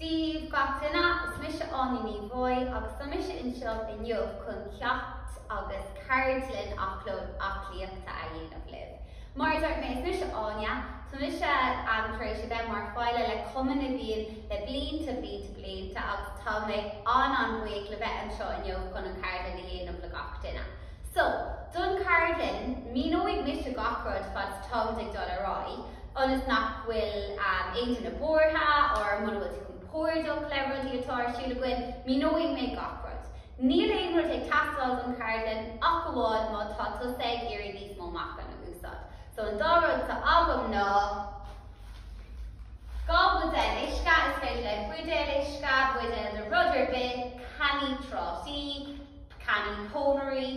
Daoibh gach duine, is mise Áine Ní Bhaoill agus tá mise anseo inniu chun ceacht agus ceardlann aclóid aclaíochta a dhéanamh libh. Mar a dúirt mé, is mise Áine, tá mise tar éis a bheith mar pháirt le Cumann na bhFiann le blianta blianta blianta agus tá mé an-an-bhuíoch le bheith anseo inniu chun an cheardlann a dhéanamh le gach duine. So, don cheardlann, míneoidh mise gach rud fad is atá muid ag dul ar aghaidh, ionas nach bhfuil aon duine buartha, nó muna bhfuil tú compordach le rudaí atá ar siúl againn, míneoidh mé gach rud. Níl aon rud ag teastáil don cheardlann ach amháin má tá tusa ag iarraidh níos mó meachan a úsáid. So, an dá rud atá agam ná dhá bhuidéal uisce, is féidir leat buidéal uisce, buidéal de rud ar bith, cannaí trátaí, cannaí pónairí,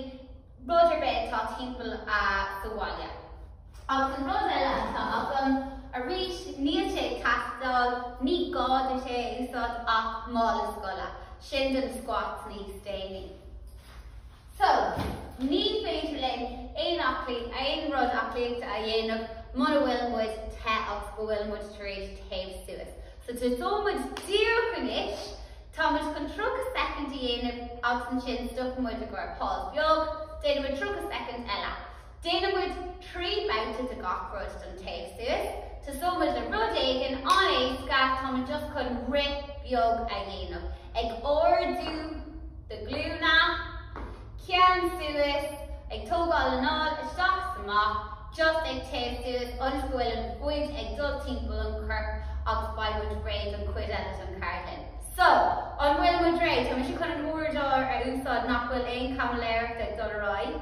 rud ar bith atá timpeall do bhaile. Agus an rud eile atá agam, arís níl sé ag teastáil, ní gá duit é a úsáid ach mála scoile, sin do na squats níos déanaí. So, ní féidir linn aon aclaí, aon rud aclaíochta a dhéanamh muna bhfuil muid te agus go bhfuil muid tar éis téamh suas. So tosóidh muid díreach anois Tá muid chun 30 second a dhéanamh agus ansin stopfaidh muid i gcomhair pause beag, déanfaidh muid 30 second eile. Déanfaidh muid 3 babhta de gach rud don téamh suas. Tosóidh muid le rud éigin an-éasca, tá muid just chun rith beag a dhéanamh, ag ardú do ghlúine, ceann suas, ag tógáil anáil isteach 's amach, just ag téamh suas ionas go bhfuil an fhuil ag dul timpeall an choirp agus beidh muid réidh don chuid eile den cheardlann. So, an bhfuil muid réidh? Tá mise chun an uaireadóir a úsáid nach bhfuil aon chaimiléireacht ag dul ar aghaidh.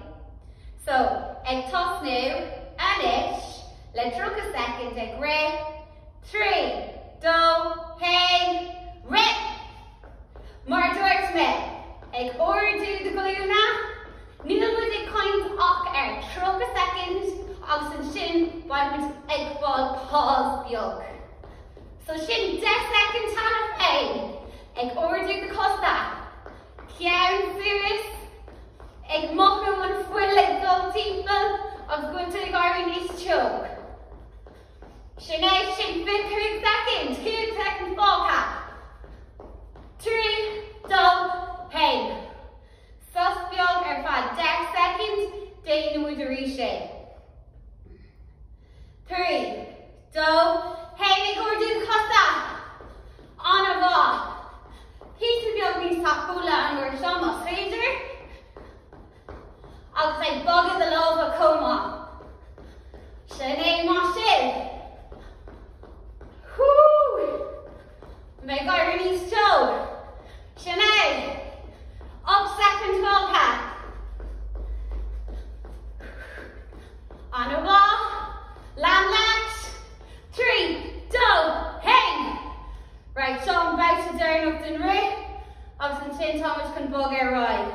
So, ag tosnú anois, le 30 second ag rith. Trí, dó, haon, rith! Mar a dúirt mé, ag ardú do ghlúine, níl muid ag caint ach ar 30 second agus ansin beidh muid ag fáil pause beag. So sin 10 second cheana féin ag ardú do chosa, ceann suas, ag mothú an fuil ag dul timpeall agus go bhfuil tú ag éirí níos teo. Sin é sin, fiche cúig second, cúig second fágtha. Trí, dó, haon. Sos beag ar feadh deich second, déanfaidh muid arís é. Trí, dó, haon ag ardú cosa. An-mhaith. Píosa beag níos tapúla an uair seo, más féidir. Agus ag bogadh do lámha chomh maith. Sin é mar sin. Hú! Mé ag éirí níos teo. Sin é. Ocht soicind fágtha. Ana mhaith. Lean leat. Trí, dó, haon! Right, seo an babhta deireanach den rith agus ansin táimid chun bog ar aghaidh.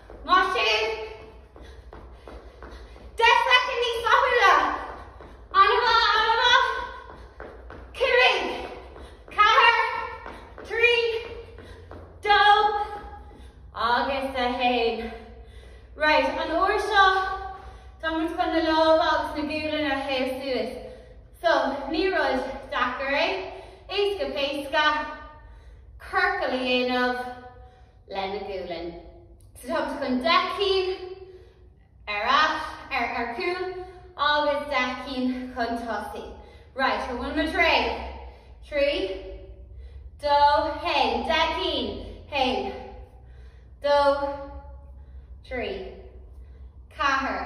Mar sin, deich soicind níos tapúla, ana mhaith, ana mhaith, cúig, ceathair, trí, dó, agus a haon. Right, an uair seo, tá muid chun na lámha agus na gualainn a théamh suas. So, ní rud deacair é, éasca péasca, ciorcal a dhéanamh, lena gualainn. So tá muid chun deich cinn ar ais, ar chúl agus deich cinn chun tosaigh. Right, an bhfuil muid réidh? Trí, dó, haon, deich cinn, haon, dó, trí, ceathair,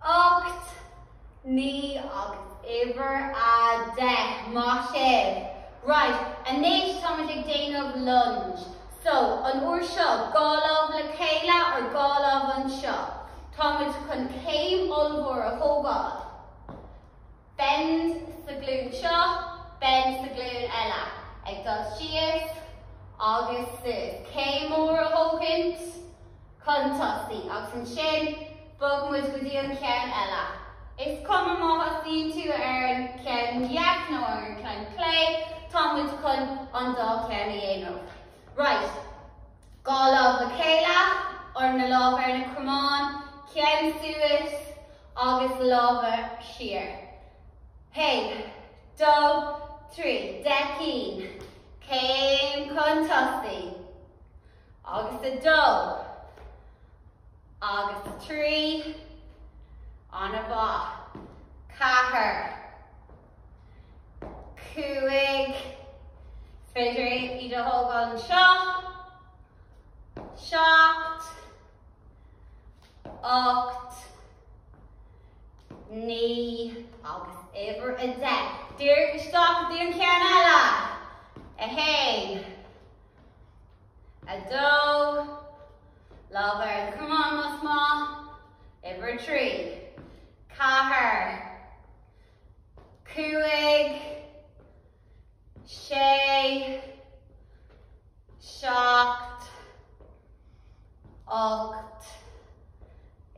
Ocht, naoi agus uimhir a deich. Maith sibh. Right, anois táimid ag déanamh lunge. So, an uair seo, dhá lámh le chéile or dhá lámh anseo. Táimid chun céim ollmhór a thógáil. Bend sa ghlúin seo, bend sa ghlúin eile. Ag dul síos agus suas. Céim mór a thógaint chun tosaigh agus ansin bog muid go dtí an ceann eile. Is cuma má thosaíonn tú ar an gceann dheas nó ar an gceann chlé, tá muid chun an dá cheann a dhéanamh. Right. Dhá lámh le chéile, or na lámha ar na cromáin, ceann suas agus lámha siar. Haon, dó, trí, deich gcinn, céim chun tosaigh, agus a dó, agus a trí, an-mhaith, ceathair, cúig, féidir iad a thógáil anseo, seacht, ocht, naoi agus uimhir a deich. Dírigh isteach go dtí an ceann eile. A haon. A dó. Lámh ar an gcromán más maith. Uimhir a trí. Ceathair. Cúig. sé, seacht, ocht,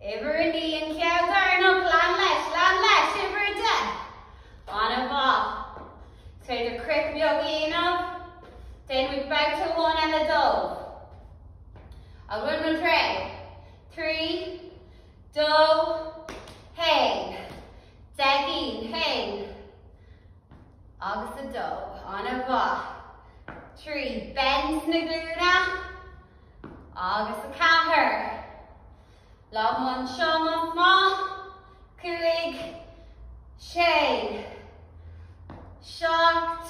uimhir a naoi an ceann deireanach, lean leis, lean leis, uimhir a deich, an-mhaith, is féidir croith beag a dhéanamh, déanfaimid babhta amháin eile de, an bhfuil muid réidh, trí, dó, haon. Dírigh in féin. Agus a dó, ana mhaith. Trí, bend na glúine. Agus a ceathair, lámh anseo más maith. Cúig, sé, seacht,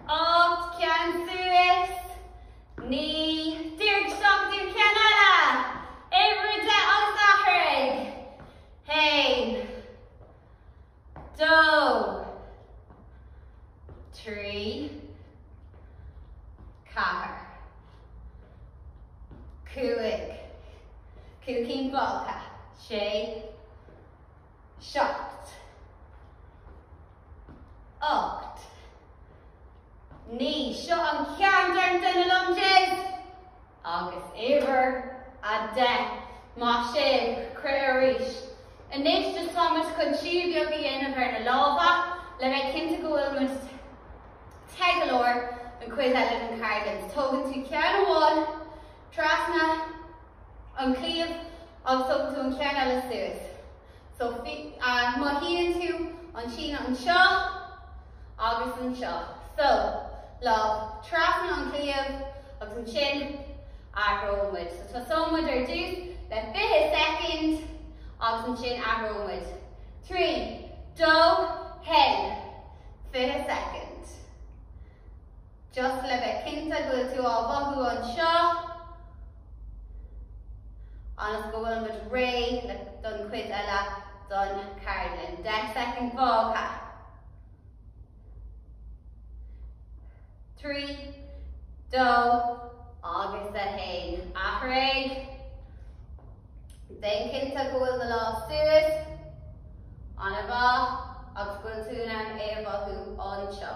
ocht, ceann suas, naoi, dírigh isteach, ceann eile, uimhir a deich agus athraigh. haon, dó, trí, ceathair, cúig, cúig cinn fágtha, sé, seacht, ocht, naoi, seo an ceann deireanach de na lunges! Agus uimhir a deich, maith sibh, croith arís. Anois so tá muid chun síneadh beag a dhéanamh ar na lámha le bheith cinnte go bhfuil muid te go leor don chuid eile den cheardlann. Tógann tú ceann amháin trasna an cliabh agus tógann tú an ceann eile suas. So mothaíonn tú an síneadh anseo agus anseo. So, lámh trasna an chliabh agus ansin athróimid. So tosóimid ar dtús le fiche soicind agus ansin athróimid. Trí, dó, haon. Fiche soicind. Just le bheith cinnte go bhfuil tú á mhothú anseo agus go bhfuil muid réidh don chuid eile den cheardlann. Deich soicind fágtha. Trí, dó agus a haon. Athraigh. Déan cinnte go bhfuil na lámha suas. Ana mhaith agus go bhfuil tú in ann é a mhothú anseo.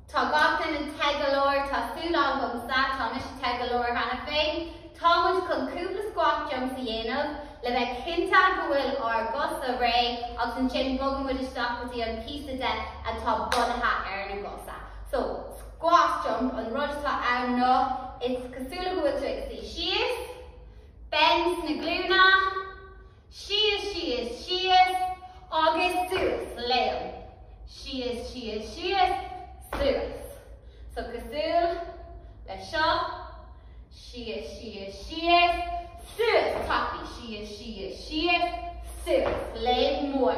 Tá gach duine te go leor, tá súil agamsa, tá mise te go leor cheana féin. Tá muid chun cúpla squat jumps a dhéanamh le bheith cinnte go bhfuil ár gcosa réidh agus ansin bogann muid isteach go dtí an píosa de atá bunaithe ar na gcosa. So, squat jumps, an rud atá ann ná is cosúil go bhfuil tú ag suí síos, bend sna glúine, Síos, síos, síos agus suas. Léim. Síos, síos, síos, suas. So cosúil le seo. Síos, síos, síos, suas. Tapaidh. Síos, síos, síos, suas. Léim mór.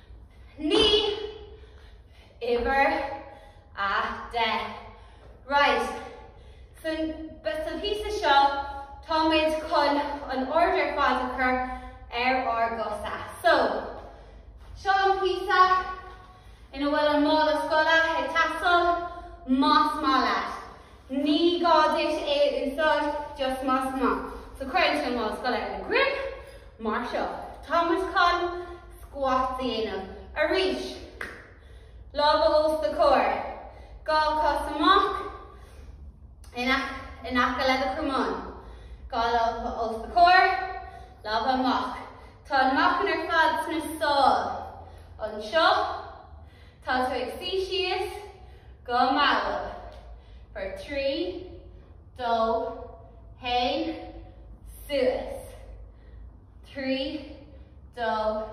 Naoi! Uimhir a deich. Right. Sa píosa seo táimid chun an aird ar fad a chur ar ár gcosa. So, seo an píosa ina bhfuil an mála scoile ag teastáil más maith leat. Ní gá duit é a úsáid, just más maith. So cuirigí an mála scoile ar do dhroim mar seo. Tá muid chun squats a dhéanamh. Arís. Lámha os do chomhair. Dhá chos amach in aice le do chromáin. Dhá lámha os do chomhair. Lámha amach. Tá an meáchan ar fad sna sála. Anseo. Tá tú ag suí síos go mall. For trí, dó, haon, suas. Trí, dó,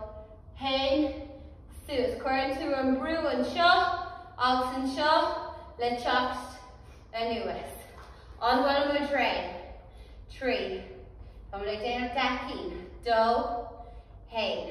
haon, suas. Cuireann tú an brú anseo agus anseo le teacht anuas. An bhfuil muid réidh? Trí. Tá muid ag déanamh deich gcinn. Dó, haon.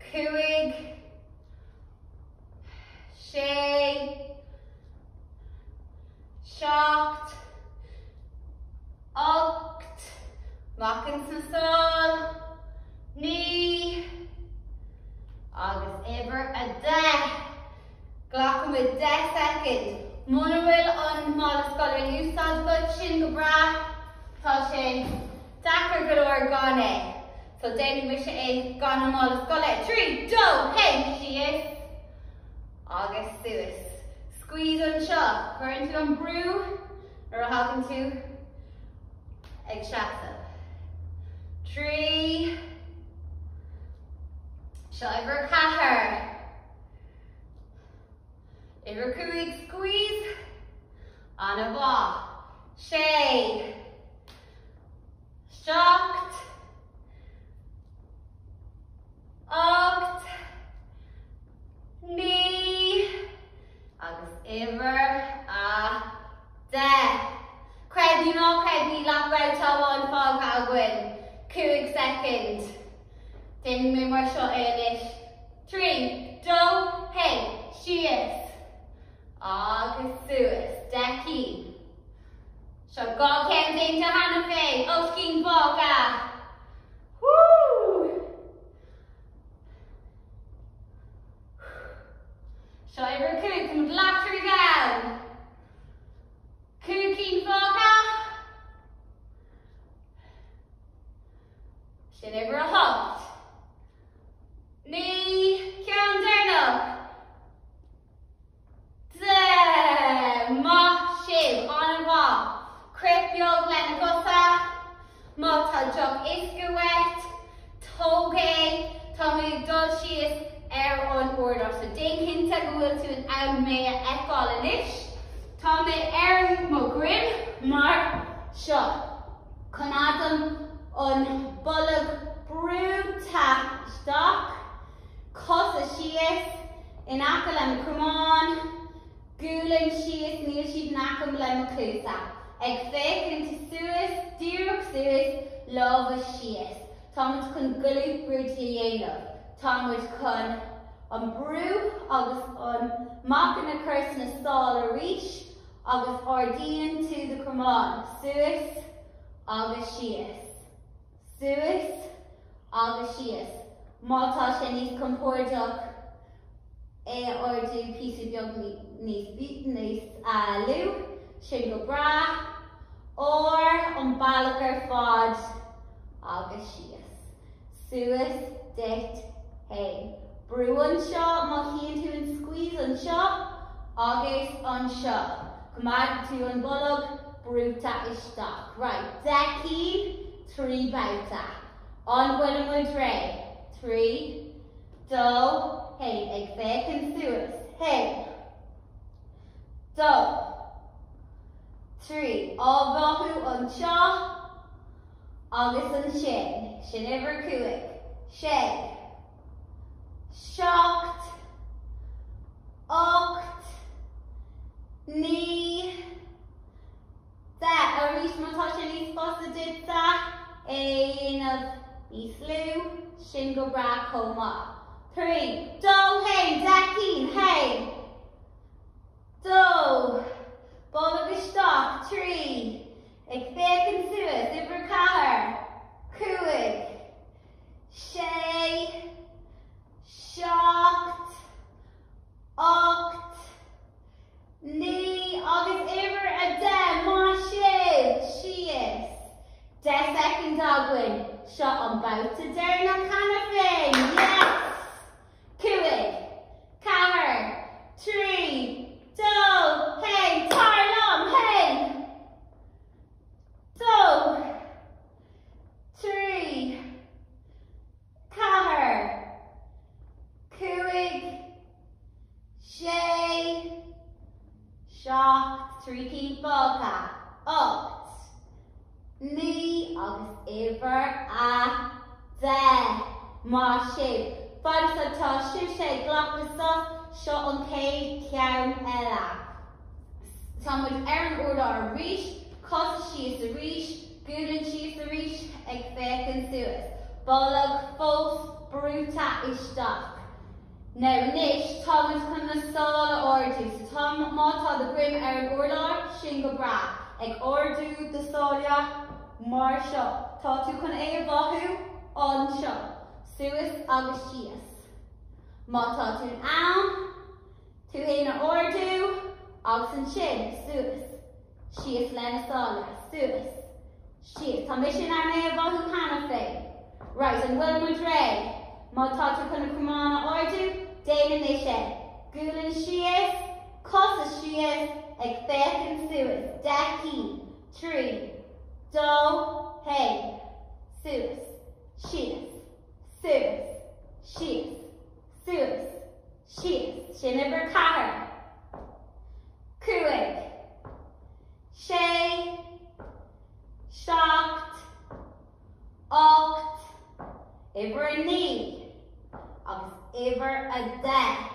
cúig, sé, seacht, ocht, meáchan sna sála, naoi, agus uimhir a deich. Glacfaimid deich soicind. Muna bhfuil an mála scoile in úsáid agat, sin go breá, tá sé deacair go leor gan é. So déanfaidh mise é gan an mála scoile trí, dó, haon, síos agus suas. Squeeze anseo, cuireann tú an brú nuair a thagann tú ag seasamh. Trí, seo uimhir ceathair. Uimhir cúig, squeeze, ana mhaith. Sé. seacht, ocht, naoi agus uimhir a deich. Creid nó ná creid níl ach babhta amháin fágtha againn. Cúig soicind. Déanfaidh mé mar seo é anois. Trí, dó, haon, síos agus suas. Deich cinn. Seo dhá cheann déanta cheana féin ocht cinn fágtha. Seo uimhir a cúig, tá muid leathshlí ann. Cúig cinn fágtha. Sin uimhir a hocht. Naoi, ceann deireanach. Maith sibh, an-mhaith, crith beag le na cosa. Má tá deoch uisce uait, tóg é. Tá mé ag dul síos ar an urlár seo. Déan cinnte go bhfuil tú in ann mé a fheiceáil anois. Tá mé ar mo dhruim mar seo. Coimeádaim an bolg brúite isteach. cosa síos in aice le mo chromáin, gualainn síos, níl siad in aice le mo chluasa, ag féachaint suas, díreach suas, lámha síos, tá muid chun glute bridge a dhéanamh, tá muid chun an brú agus an meáchan a chur sna sála arís agus ardaíonn tú do chromáin suas agus síos. suas agus síos, má tá sé níos compordach é a ardú píosa beag níos lú, sin go breá, or an bealach ar fad agus síos, suas duit fhéin. Brú anseo mothaíonn tú an squeeze anseo agus anseo. Coimeád tú an bolg brúite isteach. Right, deich cinn, trí babhta. An bhfuilimid réidh? Trí, dó, haon, ag féachaint suas, haon. Dó. Trí, á mhothú anseo agus ansin. Sin uimhir a cúig. Sé. seacht, ocht, naoi, deich, arís má tá sé níos fusa duit é a dhéanamh níos lú, sin go breá chomh maith. Trí, dó, haon, deich cinn, haon, dó, bolg isteach, trí, ag féachaint suas, uimhir a ceathair, cúig, sé, seacht, ocht, naoi agus uimhir a deich, maith sibh! síos. Deich soicind againn, seo an babhta deireanach cheana féin, yes! cúig, ceathair, trí, dó, haon, tar liom, haon, dó. trí, ceathair, cúig, sé, seacht, trí cinn fágtha, ocht, naoi agus uimhir a deich. Maith sibh! Fad is atá sibhse ag glacadh sosa, seo an chéad cheann eile. Tá muid ar an urlár arís, cosa síos arís. Gualainn síos arís ag féachaint suas. Bolg fós brúite isteach. Now anois táimid chun na sála a ardú. So tá, má tá do dhroim ar an urlár, sin go breá. Ag ardú do sáile mar seo. Tá tú chun é a mhothú anseo. Suas agus síos. Má tá tú in ann tú fhéin a ardú agus ansin suas. Síos leis na sála. Suas. Síos. Tá mise in ann é a mhothú cheana féin. Right, an bhfuil muid réidh? Má tá tú chun an camán a ardú, déan anois é. Gualainn síos. Cosa síos. Ag féachaint suas. Deich cinn. Trí. Dó. Haon. Suas. Síos. Suas. Síos. Suas. síos, sin uimhir ceathair, cúig, sé, seacht, ocht, uimhir a naoi agus uimhir a deich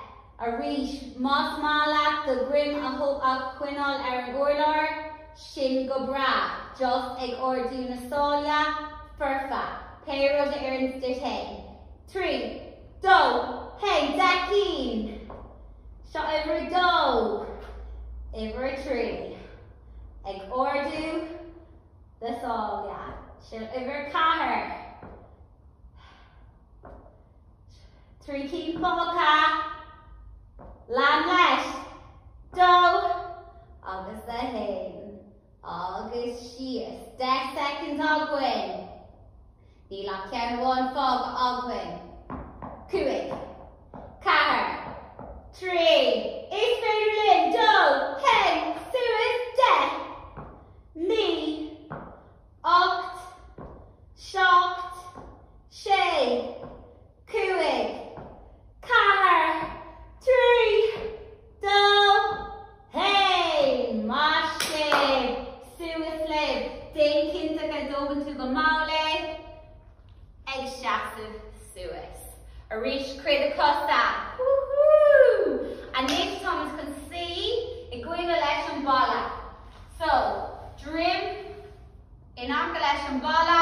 arís más maith leat do dhroim a choinneáil ar an urlár, sin go breá, just ag ardú na sáile, foirfe, pé rud a oireanns duit é. Trí, dó, hé, deich gcinn! So uimhir a dó, uimhir a trí, ag ardú do shála. Seo uimhir a ceathair. Trí cinn fágtha. Lean leis. Dó agus a haon agus síos. Deich soicind againn. Níl ach ceann amháin fágtha againn. Cúig. Ceathair. Trí. Is féidir linn dul ceann suas deich. Naoi. Ocht. Seacht. Sé. cúig, ceathair, trí, dó, haon. Maith sibh! Suas libh! Déan cinnte go dtógann tú go mall é. Ag seasamh suas. Arís, croith do chosa. Wú hú! Anois táimid chun suí i gcoinne an bhalla. So, droim in aice leis an bhalla.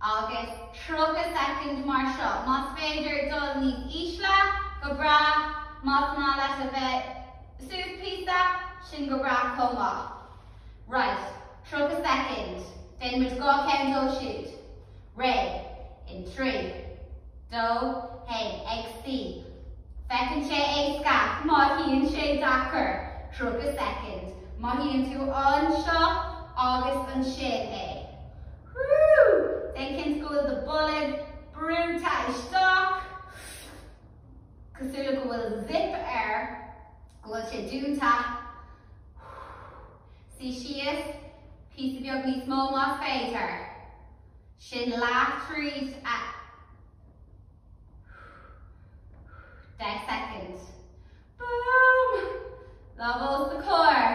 Agus 30 soicind mar seo. Más féidir dul níos ísle, go breá. Más maith leat a bheith suas píosa, sin go breá chomh maith. Raight. 30 soicind. Déanfaimid dhá cheann dóibh siúd. Réidh. In trí. Dó. hAon. Ag suí. Feiceann sé éasca. Mothaíonn sé deacair. 30 soicind. Mothaíonn tú anseo agus ansin é. Whoo! Déan cinnte go bhfuil do bolg brúite isteach. Cosúil le go bhfuil zip air. Go bhfuil sé dúnta. Suigh síos. Píosa beag níos mó más féidir. Sin leath tríd. Agus. Deich soicind. Boom! Lámha os do chomhair.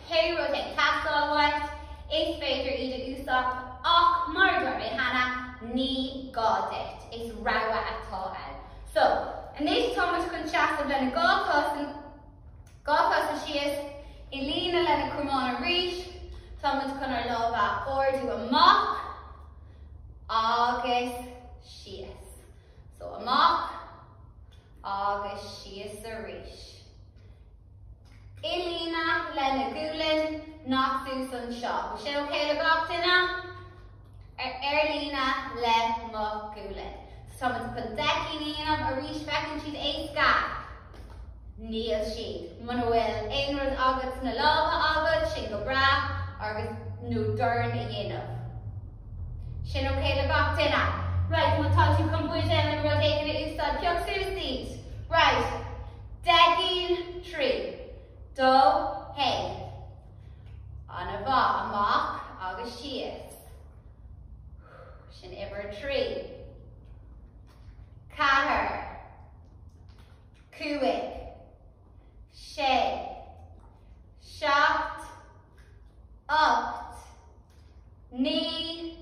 Pé rud atá ag teastáil uait, is féidir iad a úsáid ach mar a dúirt mé cheana, ní gá duit. Is rogha atá ann. So, anois táimid chun seasamh leis an dá chos síos i líne le na cromáin arís. Táimid chun ár lámha a ardú amach agus síos. So, amach agus síos arís. Ar líne le do ghualainn, nach thuas anseo. Sin ok le gach duine? Ar líne le mo ghualainn. Tá muid chun deich gcinn a dhéanamh arís. Feiceann siad éasca? Níl siad. Muna bhfuil aon rud agat sna lámha agat, tá sin go breá, agus, nó dorn a dhéanamh. Sin ok le gach duine? Right, má tá tú chun buidéal nó rud éigin a úsáid, pioc suas iad. Right. Deich gcinn. Trí, dó, haon. Amach, amach agus síos. Sin uimhir trí. Ceathair. Cúig. Sé. Seacht. ocht, naoi,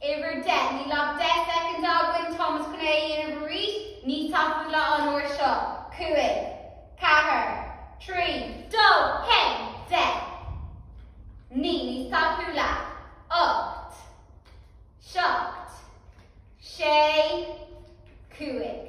uimhir deich. Níl ach deich soicind againn, tá muid chun é a dhéanamh arís, níos tapúla an uair seo. cúig, ceathair, trí, dó, haon, deich, naoi, níos tapúla, ocht, seacht, sé, cúig.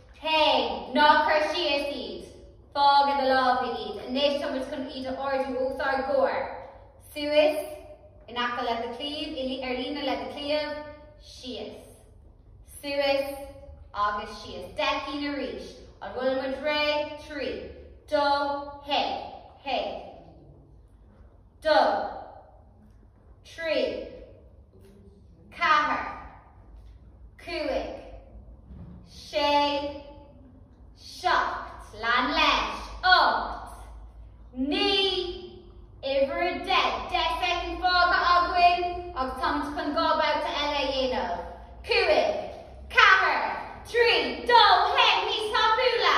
Hé, ná cuir síos iad. Fág i do lámha iad. Anois tá muid chun iad a ardú os ár gcomhair. Suas, in aice le do chliabh, i, ar líne le do chliabh. Síos. Suas. Agus síos. Deich gcinn arís. An bhfuil muid réidh? Trí. Dó. Haon. Haon. Dó. trí, ceathair, cúig, sé, seacht, lean leis, ocht, naoi, uimhir deich, deich soicind fágtha againn agus táimid chun dhá bhabhta eile a dhéanamh, cúig, ceathair, trí, dó, haon, níos tapúla!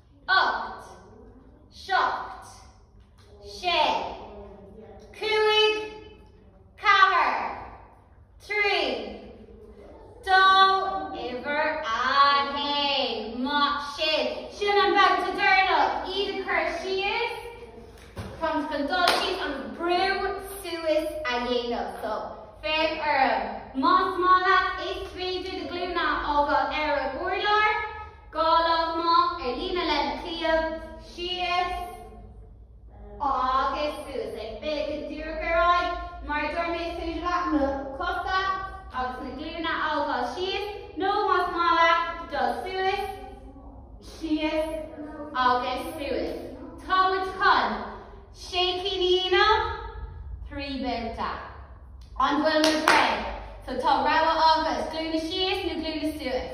ocht, seacht, sé, cúig, ceathair, trí, dó, uimhir a haon, maith sibh. Sin an babhta deireanach, iad a chur síos, táimid chun dul síos agus brú suas a dhéanamh. So, féach orm. Más maith leat, is féidir do ghlúine a fhágáil ar an urlár. Dhá lámh amach ar líne le do chliabh síos agus suas an bolg díreach ar aghaidh mar a dúirt mé is féidir leat na cosa agus na glúine a fhágáil síos nó más maith leat dul suas, síos agus suas. Tá muid chun sé cinn a dhéanamh, trí bhabhta. An bhfuil muid réidh? So tá rogha agaibh, glúine síos nó glúine suas.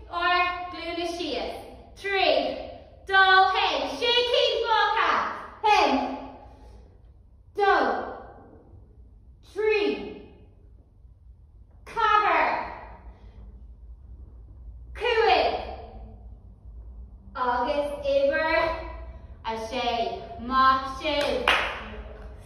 Ár nglúine síos trí dó haon. Sé cinn fágtha. Haon. Dó. Trí. Ceathair. Cúig. Agus uimhir a sé. Maith sibh.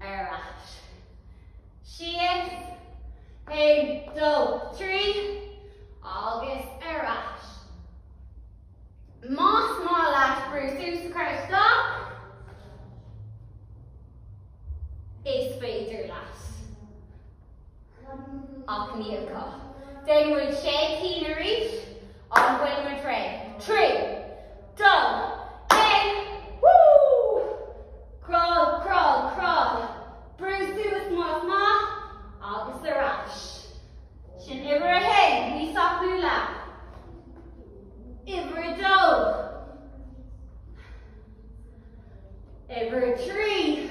Ar ais. Síos. Aon, dó, trí. Agus ar ais. Más maith leat brú suas a chur isteach, is féidir leat. Ach ní gá. Déanfaidh muid sé cinn arís. An bhfuil muid réidh? Trí! Dó! Aon! Woo! Crawl, crawl, crawl. Brú suas más maith agus ar ais. Sin uimhir a haon. Níos tapúla. Uimhir a dó. Uimhir a trí.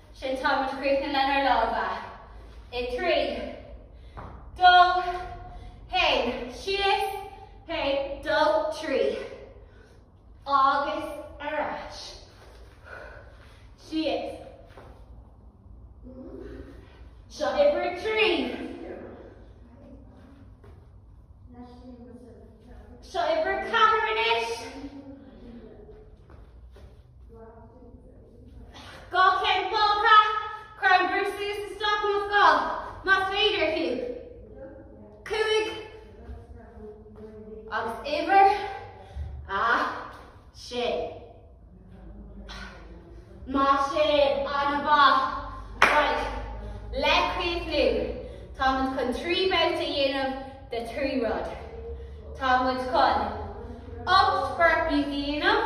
Sin tá muid críochnaithe lenár lámha. I dtrí. Dó. Haon. Síos. Haon. Dó. Trí. Agus ar ais. Síos. Seo uimhir trí. Seo uimhir ceathair anois. Dhá cheann fágtha, cuir an Brú suas isteach anseo, más féidir, fiú. Cúig agus uimhir a sé. Maith sibh an-mhaith, bhuel, le críochnú, tá muid chun trí babhta a dhéanamh de trí rud. Tá muid chun ocht bport níos a dhéanamh.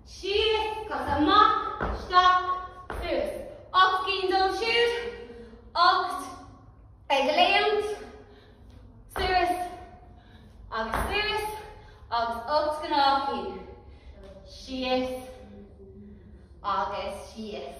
síos, cas amach, isteach, suas, ocht gcinn dul siar, ocht ag léimt, suas agus suas agus ocht gcnámh droma, síos agus síos,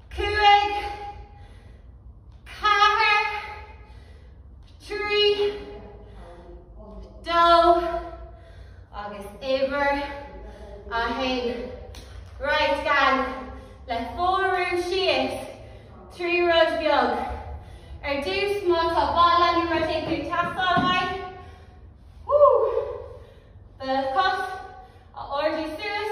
cúig, ceathair, trí, dó agus uimhir a haon. Right, gang, le fuarú síos trí rud beag. Ar dtús má tá balla nó rud éigin ag teastáil uaibh, woo, do chos a ardú suas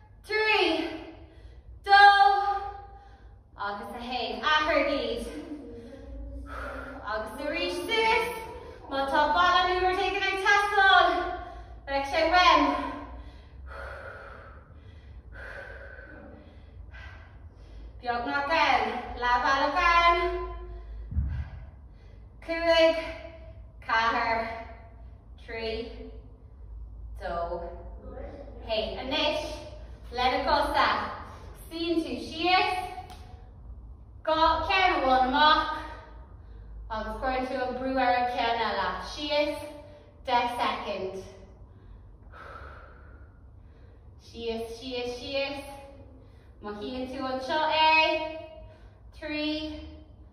Trí, dó agus a haon. Athraígí. Agus arís duit. Má tá balla nó rud éigin ag teastáil, beidh sé uaim. Beagnach ann. Leathbhealach ann. Cúig, ceathair, trí, dó. Hé, anois, le na cosa. Suíonn tú síos, cos amháin amach, agus cuireann tú an brú ar an gceann eile. Síos, deich soicind. Síos, síos, síos. Mothaíonn tú anseo é, trí,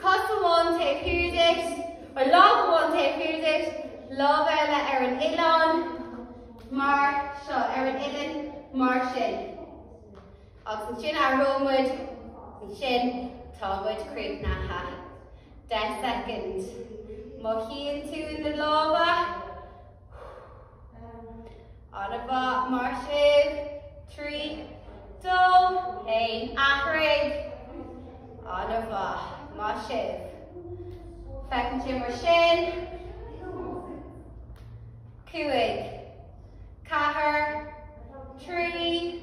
Cos amháin taobh thiar díot, nó lámh amháin taobh thiar díot, lámh eile ar an uillinn, mar seo, ar an uillinn, mar sin. Agus ansin athróidh muid, ansin tá muid críochnaithe. Deich soicind. Mothaíonn tú na lámha. Ana mhaith, maith sibh. Trí, dó, haon, athraigh. Ana mhaith, maith sibh. Feiceann sé mar sin. Cúig, ceathair, trí.